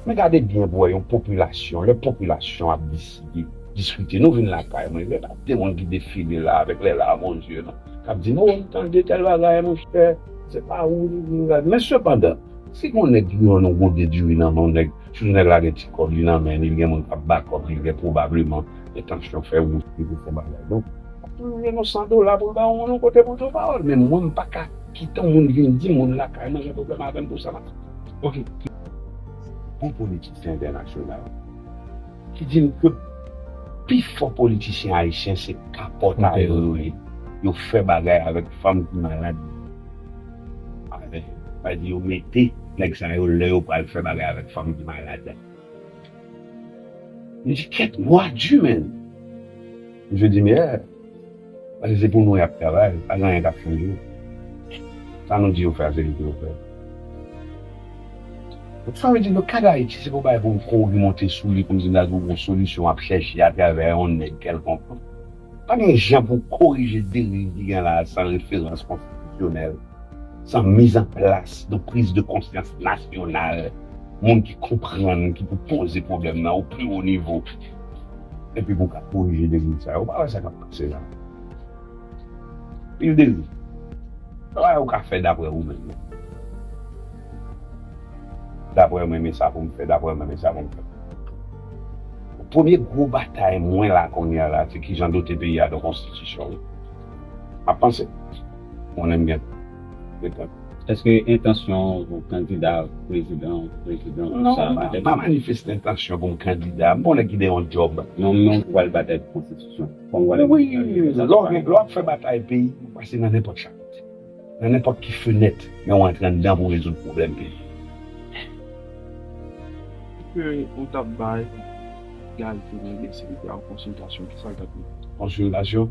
men gade byen pou wè yon popilasyon lè popilasyon ap di. Di diskite nou vin lakay mwen lè nap demon ki defile la avèk lè larm o zye nou kap di nou ou tande tèl bagay monchè se pa ou li vin gad men sepandan si gon nèg ki rann ou gode diri nan men w nèg sitou nèg la gen ti kòb li nan men li li gen moun kap ba kòb li gen pwobableman entansyon fè ou li pou fon bagay donk lap toujou jwenn yon 100 dola poul ba ou moun ou kote poul di w pawòl men mwen m paka kite yon moun vin di moun lakay mwen gen pwoblèm avèm pou sa map ok ki bon politisyen entènasyonal. ki di n ke pi fò politisyen ayisyen se kapòtay yo yo ye, yo fè bagay avèk fanm ki malad yo, avè, sa vle di yo mete nèg sa yo lè yo pral fè bagay avèk fanm ki malad. M di kèt gwa di menn, m di meyè. Paske se pou nou y ap travay, pa gen anyen k ap chanje. Sa nou di yo fè a, se li pou yo fè. Donk sa vle di nan ka Dayiti, se pa yon bagay pou m kouri monte sou li pou m di m ta twouve yon solisyon ap chèche atravè yon nèg kèlkonk. Pa gen jan pou w korije deriv ki gen la a san referans konstitisyonèl, san mizanplas yon priz de konsyans nasyonal, moun ki konprann, ki pou poze pwoblèm nan o pi wo nivo. Epi pou ka korije deriv sa yo. Ou pa wè sa k ap pase la. Pil deriv. Sa pa yo ka fè dapre ou menm. Dapre mwen men sa pou m fè. Dapre mwen men sa pou m fè. Premye gwo batay mwen la kounye a la se ki jan dote peyi a de yon konstitisyon. M ap panse. M konnen m gen repons. Eske entansyon ou kandida prezidan ou prezidan ou sa a batay pou konstitisyon? Non, m pa manifeste entansyon pou m kandida. M pa yon nèg ki gen yon djòb. Non, men ou pral batay pou konstitisyon? Wi, lè w ap fè batay peyi, ou pase nan nenpòt chapit, nan nenpòt ki fenèt, men ou antre anndan pou w rezoud pwoblèm peyi. Eske ou t ap bay Guy Philippe si li te al konsiltasyon, kisa l t ap di? Konsiltasyon?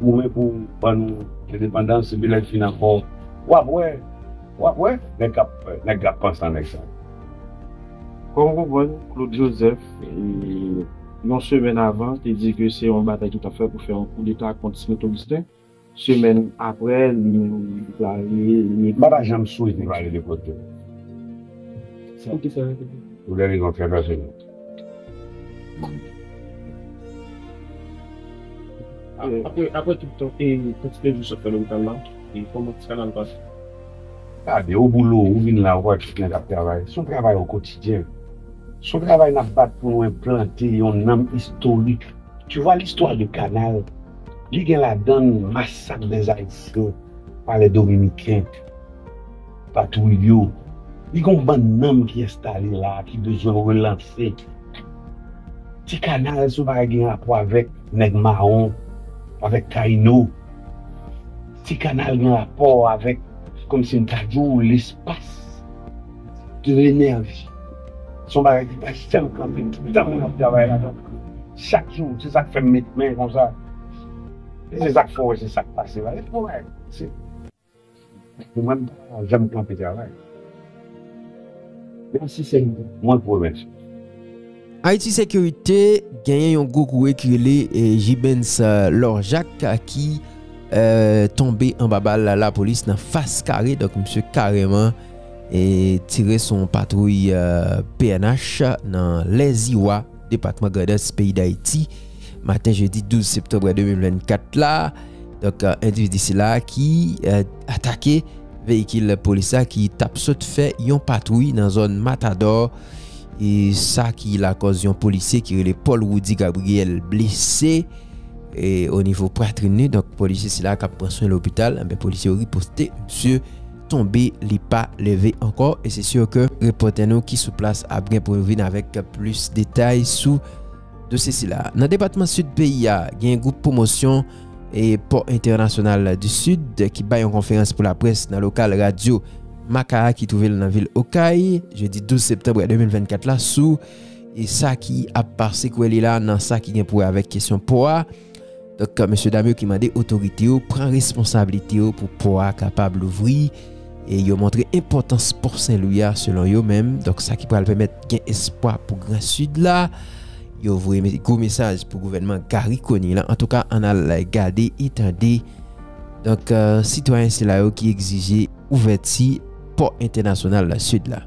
Goumen pou ban nou endepandans epi lè l fin ankò w ap wè w ap wè nèg k ap nèg k ap panse an nèg sa yo. Kòm ou konprann Claude Joseph yon semèn avan te di ke se yon batay ki t ap fè pou fè yon koudeta kont Smith Augustin semèn aprè li menm li deklare li ekri. M pa ta janm swete pale de Claude Joseph. Pou kisa? Pou de rezon trè pèsonèl. Apre tout tan e kantite jou sot nan lopital la, kòman ti kanal pase? Gade, o boulot, ou vin la ou pa wè pitit nèg ap travay. Se yon travay o kotidyen. Se yon travay nap bat pou nou enplante yon nanm istorik. Tu vois l'histoire de canal, li gen ladann masak des Haïtiens par les Dominicains. Patwouy yo, li gen yon bann nanm ki enstale la a ki bezwen relanse. Ti kanal se yon bagay gen rapò avèk nèg mawon, avèk Tayino. Ti kanal gen rapò avèk, kòmsi m ta di w, lespas, de lenèji. Se yon bagay ki pa janm kanpe, tout tan moun ap travay ladan l. Chak jou, se sa k fè m met men konsa. Se sa k fè w wè se sa k pase la. Pou mwen m pa janm kanpe travay. Menm si se mwen k remèt yo. Haiti Securite genyen yon gwo kouwè ki rele Gibens Laure Jacques ki tonbe anba bal lapolis nan fas kare donk misye kareman tire sou yon patwouy pnh nan Lèziwa. depatman Grandans peyi Dayiti maten jedi 12 septanbre 2024 la. Donk, euh, endividi sila ki euh, atake veyikil polis la ki tap sot fè yon patwouy nan zòn Matador. E sa ki lakòz yon polisye ki rele Paul Rudy Gabriel blese e o nivo pratrin ni. Donk, polisye sila kap pran swen lopital, anbe eh polisye riposte msye tonbe li pa leve ankò e se sur ke repòtè nou ki sou plas ap gen pou yo vin avèk plis detay sou dosye sila. Nan depatman Sid peyi a, gen yon gwoup pwomosyon e pò entènasyonal du Sud ki bay yon konferans pou laprès nan lokal radyo Makaha ki twouve l nan vil Okay, jedi 12 septanbre 2024 la sou sa ki ap sekwe li la nan sa ki gen pou wè avèk kesyon pò a. Donk, mesye dam yo ki mande otorite yo pran responsablite yo pou pò a kapab louvri e yo montre enpòtans pò Senlwi a selon yo menm. Donk, sa ki pral pèmèt gen espwa pou Gran Sid la. Yo voye gwo mesaj pou gouvènman Garry Conille la. Antouka, ann al gade e tande. Donk, sitwayen sila yo ki egzije ouvèti pò entènasyonal Sid la.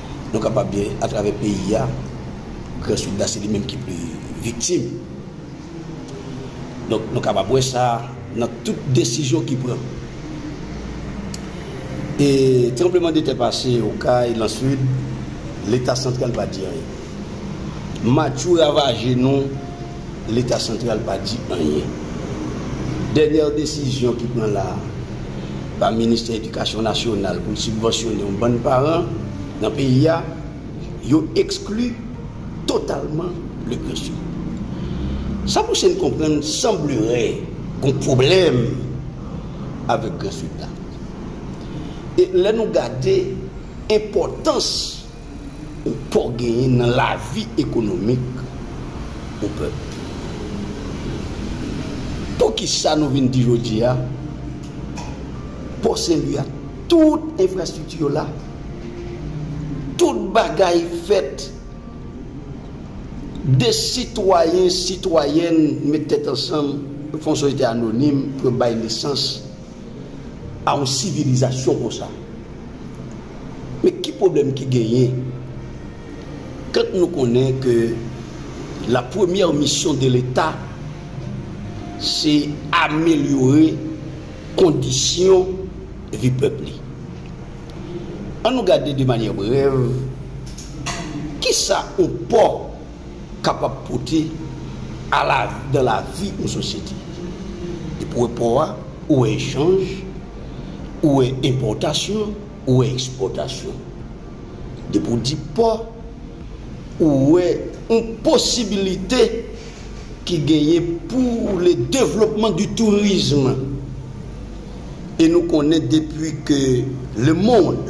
Nou kapab di atravè peyi a, Gran Sid la se li menm ki pli viktim. Donk nou kapab wè sa nan tout desizyon ki pran. E tranbleman de tè pase Okay, nan Sid, Leta santral pa di anyen. Matchou ravaje nou Leta santral pa di anyen. Dènyè desizyon ki pran la a pa Ministè Edikasyon Nasyonal pou l sibvansyone yon bann paran nan peyi a, yo ekskli totalman Leclerc yo. Sa pouse n konprann sanblere gon pwoblèm avèk Grand Sud la. E lè nou gade enpòtans. ou po genyen nan lavi ekonomik yon pèp. Poukisa nou vin di jodi a, Pò Senlwi a tout enfrastrikti yo la, tout bagay fèt, de sitwayen, sitwayèn met tèt ansanm, fon soyete anonim pou yo bay nesans. a yon sivilizasyon konsa. Men ki pwoblèm ki genyen kant nou konnen ke la premyè misyon de leta se amelyore kondisyon vi pèp li. An nou gade de manyè brèv kisa yon pò kapab pote a la nan lavi yon sosyete. Depi w wè pò a, ou wè echanj, ou wè enpòtasyon, ou wè ekspòtasyon. Depi w di pò, ou wè yon posibilite ki genyen pou le devlopman di tourism. E nou konnen depi ke le mond.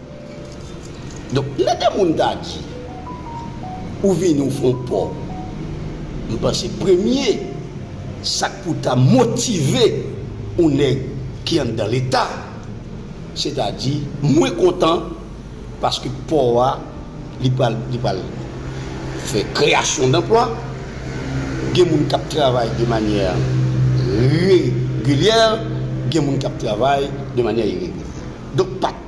Donk lè de moun ta di ou vini ou fon pò, m panse premye sa k pou ta motive yon nèg ki anndan leta, se ta di mwen kontan paske pò a li pral li pral fè kreyasyon danplwa, gen moun k ap travay de manyè regilyè, gen moun k ap travay de manyè iregilyè. Donk pa.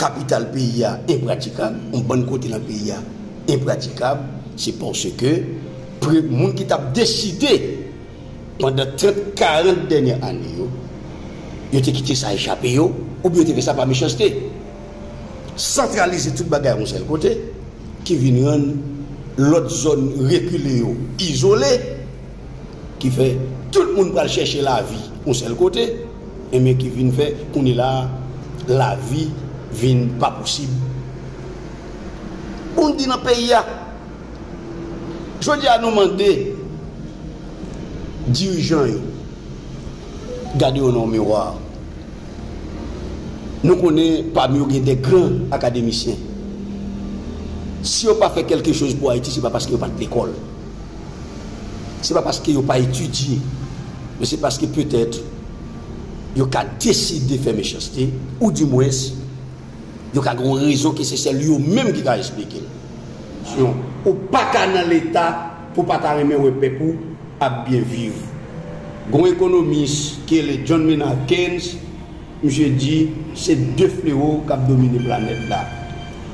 Kapital peyi a enpratikab, yon bann kote nan peyi a enpratikab, se paske pre moun ki t ap deside pandan 30, 40 dènyè ane yo, yo te kite sa echape yo oubyen yo te fè sa pa mechanste. Santralize tout bagay yon sèl kote ki vin rann lòt zòn rekile yo izole. ki fè tout moun pral chèche lavi yon sèl kote, enben ki vin fè kounye la a lavi vin pa posib pou n di nan peyi a. Jodi a nou mande dirijan yo gade yo nan miwa, nou konnen pami yo gen de gran akademisyen, si yo pa fè kèlke choz pou Ayiti se pa paske yo pa t lekòl. Se pa paske yo pa etidye, men se paske petèt yo ka deside fè mechanste, ou di mwens, yo ka gen yon rezon ke se sèl yo menm ki ka esplike l. Sinon, ou pa ka nan Leta pou w pa ta renmen wè pèp ou ap byen viv. Gen yon ekonomis ki rele John Maynard Keynes, Misye di se 2 flewo k ap domine planèt la,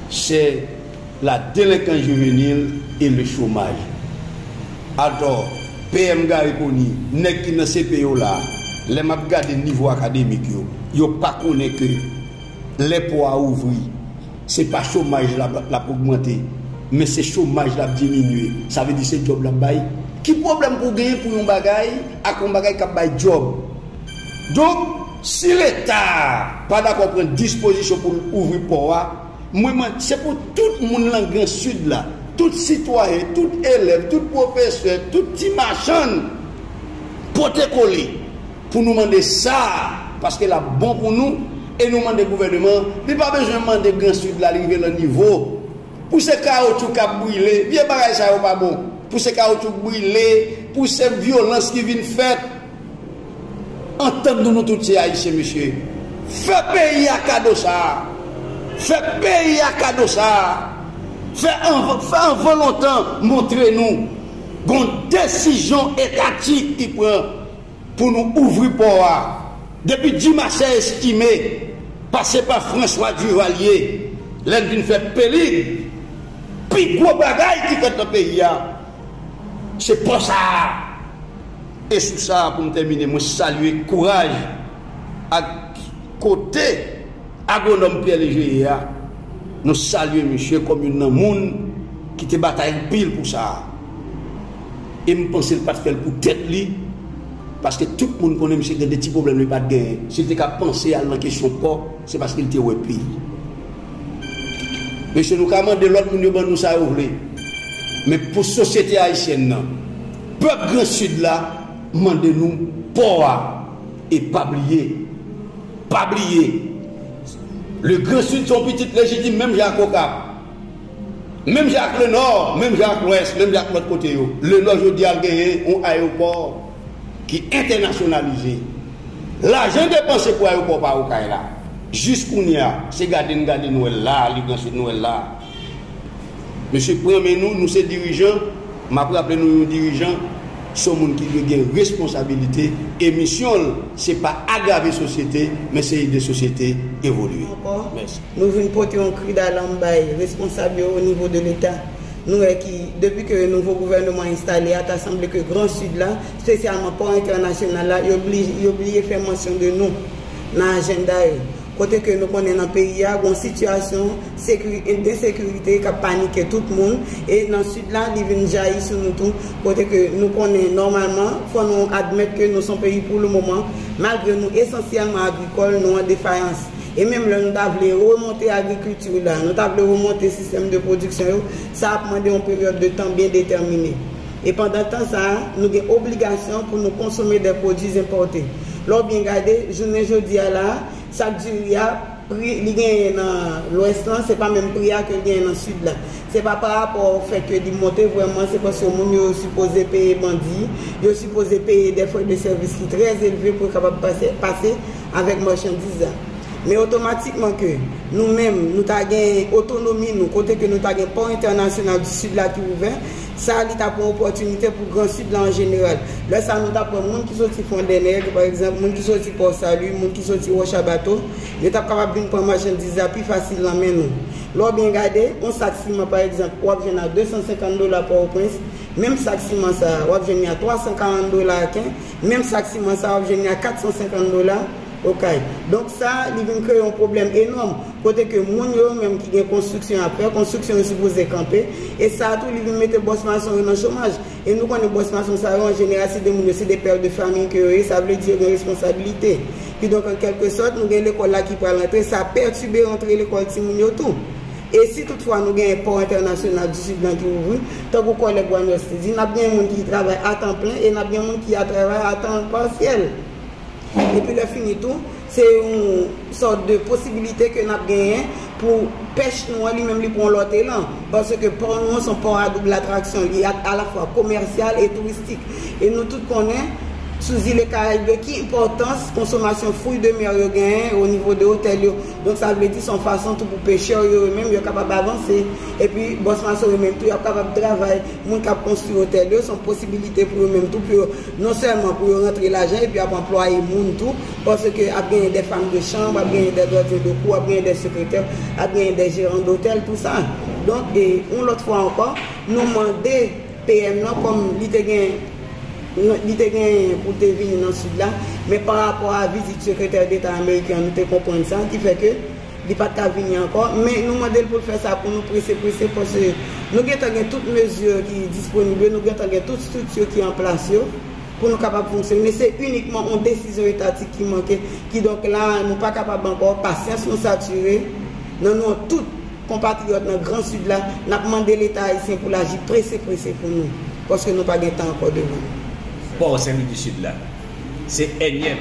sè la delenkans jivenil e le chomaj. Atò, PM Garry Conille, nèg ki nan CP yo la, lè m ap gade nivo akademik yo, yo pa konnen ke lè pò a ouvri, se pa chomaj la l ap ogmante, men se chomaj la ap diminye, sa vle di se djòb l ap bay? Ki pwoblèm pou w genyen pou yon bagay ak yon bagay k ap bay djòb? Donk, si leta a pa dakò pran dispozisyon pou l ouvri pò a, mwen mande se pou tout moun lan gran sid la, tout sitwayen, tout elèv, tout pwofesè, tout ti machann pote kole pou nou mande sa a paske l ap bon pou nou e nou mande gouvèneman an, li pa bezwen mande gran sid la li rive lan nivo pou se kawotchou k ap brile, vye bagay sa yo pa bon pou se kawotchou k brile, pou se vyolans ki vin fèt. Antann nou nou tout se ayisyen mesye fè peyi a kado sa fè peyi a kado sa fè anvan lontan montre nou gon desizyon etatik ki pran pou nou ouvri pò a depi dimasè estime pase pa franswa divalye lè n vin fè pelig pi gwo bagay ki fèt nan peyi a se pò sa. E sou sa a pou m tèmine mwen salye kouraj ak kote Agwonòm Pierre Léger ye a, nou salye misye kòm youn nan moun ki te batay anpil pou sa a. E m panse l pa t fè l pou tèt li, paske tout moun konnen misye gen de ti pwoblèm li pa t genyen. Si l te ka panse al nan kesyon pò, se paske l te wè peyi. Mesye nou ka mande lòt moun yo ban nou sa yo vle, men pou sosyete ayisyèn nan, Pèp gran sud la mande nou pò a e pa bliye pa bliye le gran sud son pitit lejitim menm jan ak okap menm jan ak le nò menm jan ak lwès menm jan ak lòt kote yo le nò jodi a genyen yon ayewopò ki entènasyonalize lajan depanse pou ayewopò pa okay la jis kounya se gade n gade nwèl la le gran sud nwèl la. Mesye pran men nou, nou se dirijan, map raple nou yon dirijan son moun ki dwe gen responsabilite e misyon l se pa agrave sosyete men se ede sosyete evolye. Mèsi. Nou vin pote yon kri dalam bay responsab yo o nivo de leta. Nou wè ki, depi ke nouvo gouvèneman enstale a, ta sanble ke gran Sid la, spesyalman pò entènasyonal la, yo bliye fè mansyon de nou nan ajenda yo. kote ke nou konnen nan peyi a gon sitiyasyon ensekirite kap panike tout moun e nan sid la li vin jayi sou nou tou kote ke nou konnen nòmalman fò nou admèt ke nou son peyi pou le moman malgre nou esansyèlman agrikòl nou an defayans e menm lè nou ta vle remonte agrikilti la nou ta vle remonte sistèm de pwodiksyon yo sa ap mande yon peryòd de tan byen detèmine e pandan tan sa nou gen obligasyon pou nou konsome de pwodui enpòte. Lè w byen gade, jounen jodi a la a, sak diri a, pri li genyen nan lwès lan, se pa menm pri a ke l genyen nan sid la. Se pa pa rapò o fè ke li monte vrèman, se paske moun yo sipoze peye bandi, yo sipoze peye dè frè de sèvis ki trè elve pou yo kapab pase pase avèk machandiz la. Men otomatikman ke nou menm, nou ta gen otonomi nou, kote ke nou ta gen pò entènasyonal di sid la ki ouvè, Sa li t ap yon opòtinite pou Gran Sid la an jeneral. Lè sa a nou t ap wè moun ki soti Fondènèg, pa egzanp, moun ki soti Pò Sali, moun ki soti Wòcha Bato, yo t ap kapab vin pran machandiz la pi fasil nan men nou. Lè w byen gade, yon sak siman pa egzanp, w ap jwenn a 250 dola Pòtoprens, menm sak siman sa a, w ap jwenn li a 340 dola Aken, menm sak siman sa a, w ap jwenn li a 450 dola. Okay. Donk sa, li vin kreye yon pwoblèm enòm, kote ke moun yo, yo menm ki gen konstriksyon y ap fè, konstriksyon yo sipoze kanpe, e sa tou, li vin mete bòs mason yo nan chomaj. E nou konnen bòs mason sa yo, an jeneral, se 2 moun yo, se 2 père de famille ke yo ye, sa vle di yo gen responsabilite. Kidonk, an kèlke sòt, nou gen lekòl la ki pral antre, sa pètibe rantre lekòl timoun yo tou. E si tout fwa nou genyen pò entènasyonal di Sid lan ki ouvri, tankou kòlèg Waners te di, n ap genyen moun ki travay a tan plen e n ap gen moun ki a travay a tan pasyèl. Epi lè fini tou, se yon sòt de posibilite ke nap genyen pou pèch nou an li menm li pran yon lòt elan. Paske pò nou an se yon pò a double atraksyon. Li alafwa komèsyal e touristik. E nou tout konnen, sou zile Karayib yo, ki enpòtans konsomasyon fruits de mer yo genyen o nivo de otèl yo. Donk sa vle di se yon fason tou pou pechè yo yo menm yo kapab avanse. Epi Bòs Mason yo menm tou yap kapab travay. Moun kap konstwi otèl yo, se yon posibilite pou yo menm tou pou yo. Non sèlman pou yo rantre lajan epi ap anplwaye moun tou, paske ap genyen dè fanm de chanb, ap genyen dè gadyen de kou, ap genyen dè sekretè, ap genyen dè jeran dotèl, tou sa. Donk, yon lòt fwa ankò, nou mande PM lan, kòm li te gen, li te gen pou l te vini nan Sid la, men pa rapò a vizit sekretè deta ameriken an, nou te konprann sa, ki fè ke. Li pa t ka vini ankò, men nou mande l pou l fè sa pou nou prese prese paske nou gentan gen tout mezi ki disponib yo, nou gentan gen tout strikti ki an plas yo pou nou kapab fonksyone. Se inikman yon desizyon etatik ki manke. Kidonk la a, nou pa kapab ankò, pasyans nou satire. Nan non tout konpatriyòt nan Gran Sid la, n ap mande Leta ayisyen pou l aji prese prese pou nou paske nou pa gen tan ankò devan nou. Pò Sen Lwi di Sid la se ènyèm.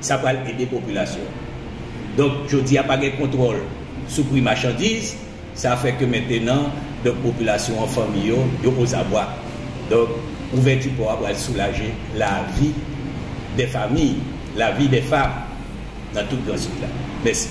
Sa pral ede popilasyon an. Donk, jodi a pa gen kontwòl sou pri machandiz, sa fè ke mentenan, donk popilasyon an, fanmi yo, yo ozabwa. Donk, ouvèti pò a pral soulaje lavi dè fami, lavi dè fam nan tout Gran Sid la. Mèsi.